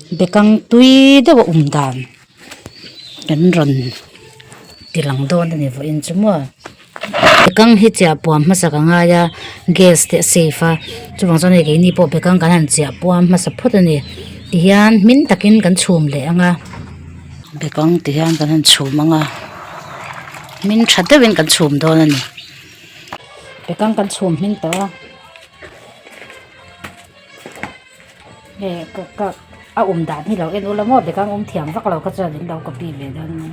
Bekang tui deuha awm dan kan rawn ti lang dawn a ni vawh in chu maw bekang hi chiah puam hmasa ka ngai a gas te a save a chuvang chuan hei keini pawh bekang kan han chiah puam hmasa phawt a ni tihian hming takin kan chhum leh ang a bekang ti hian kan han chhum ang a hming tha deuh in kan chhum dawn a ni bekang kan chhum hming tawh a. He ka ka a awm dan hi lo en ula maw bag ang awm thiam vak lo kha chuan in lo copy ve dawn a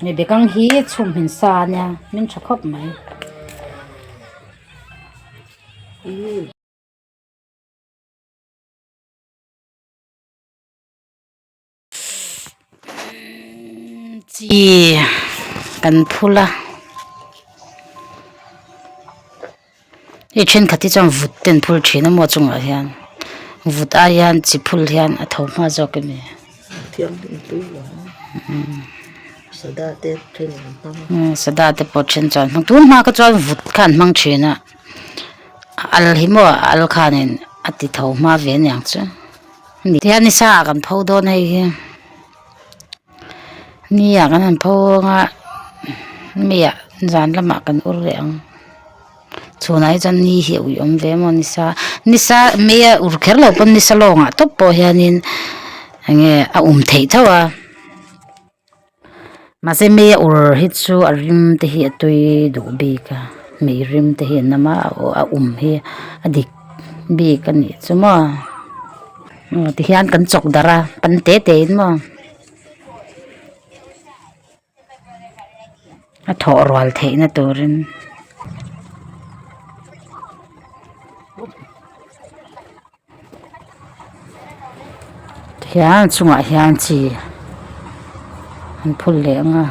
ni he bag ang hi chhum hmin sa ania min tha khawp mai. chi kan phul a hei thenkhat hi chuan vut ten phur thin a maw a chungah hian vut ai hian chi phul hian a tho nghal zawk a ni sada te pawh a then chuan hmang tun hma kha chuan vut kha an hmang thin a. al hi maw a al khan in a ti tho hma ve aniang chu ni hian ni sa kan pho dawn hei hi ni ah kan han pho hawng a mi ah zan lam ah kan ur leh ang chhun ah hi chuan ni hi a ui awm ve maw ni sa ni sa mi a ur kher lo pawn ni sa lawng ah tawp pawh hian in eng nge a um theih tho a. Mahse mi a ur hi chu a rim te hi a tui duh bik a, mi rim te hian nama a um hi a dik bik a nih chu maw tihian kan chawk darh a pan teh teh in maw a thawh rual theih na turin. Tihian chungah hian chi an phun leh ang a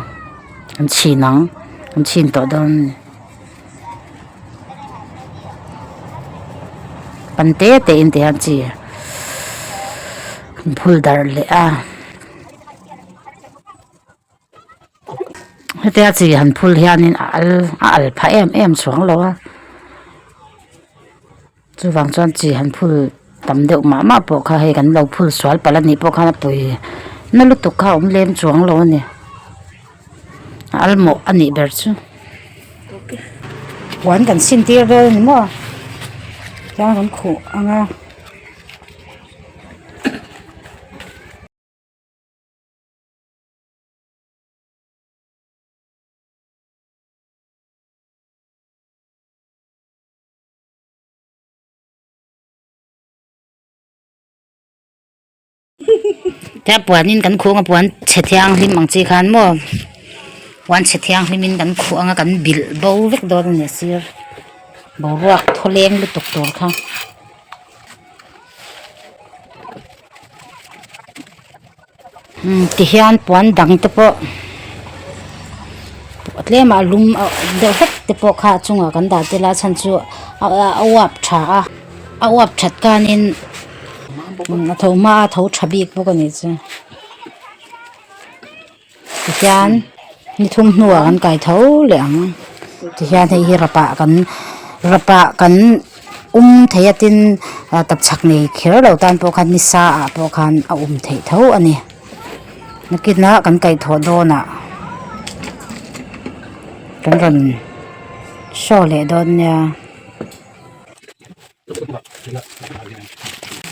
an chhin ang an chhin tawh dawn a ni pan te te in tihian chi an phun darh leh a. hetia chi han phul hianin a al a al pha em em suang lo a chuvang chuan chi han phul tam deuh mah mah pawh kha hei kan lo phun sual pal anih pawh khan a pawi na lutuk kha a awm lem chuang lo a ni a al mawh anih ber chu puan kan sin tir dawn a ni maw tiang an khuh ang a. Tia puan in kan khuh ang a puan chhe thiang hlim ang chi khan maw puan chhe thiang hlim in kan khuh ang a kan bilh bo vek dawn a ni a sir boruak thawleng lutuk tur kha. Tihian puan dang te pawh a tlem a a lum a awm deuh hlek te pawh kha a chungah kan dah tel a a chhan chu a a uap tha a a uap that kanin a tho hma a tho tha bik bawk a nih chuan tihian ni thum hnua kan kaitho leh ang tihian hei hi rapah kan rapah kan-- awm thei a tin ah tap chak nei kher lo tan pawh khan ni sa ah pawh khan a awm thei tho a ni nakin a kan kaih thawh dawn ah kan rawn show leh dawn nia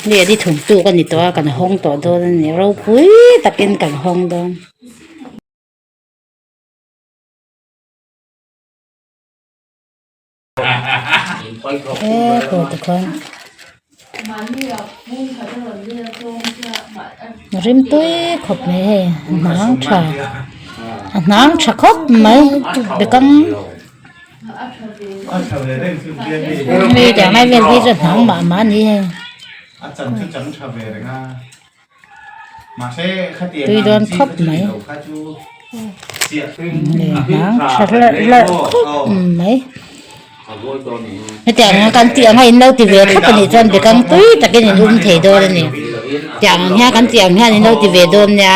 mi an i thum tu ka ni tawh a kan hawng tawh dawn a ni ropui takin kan hawng dawn. he kawrte khan rim pui khawp mai hei a hnang tha a hnang tha khawp mai bekam hei tiang lai vel hi chu a hnang mah mah a ni hei. tuidawn khawp mai lehlam tha hlauh hlauh khawp mai hetiang hian kan tih ang a in lo ti ve thlap a nih chuan bikang tui takin in um thei dawn a ni tiang ang hian kan tih ang hian in lo ti ve dawn nia.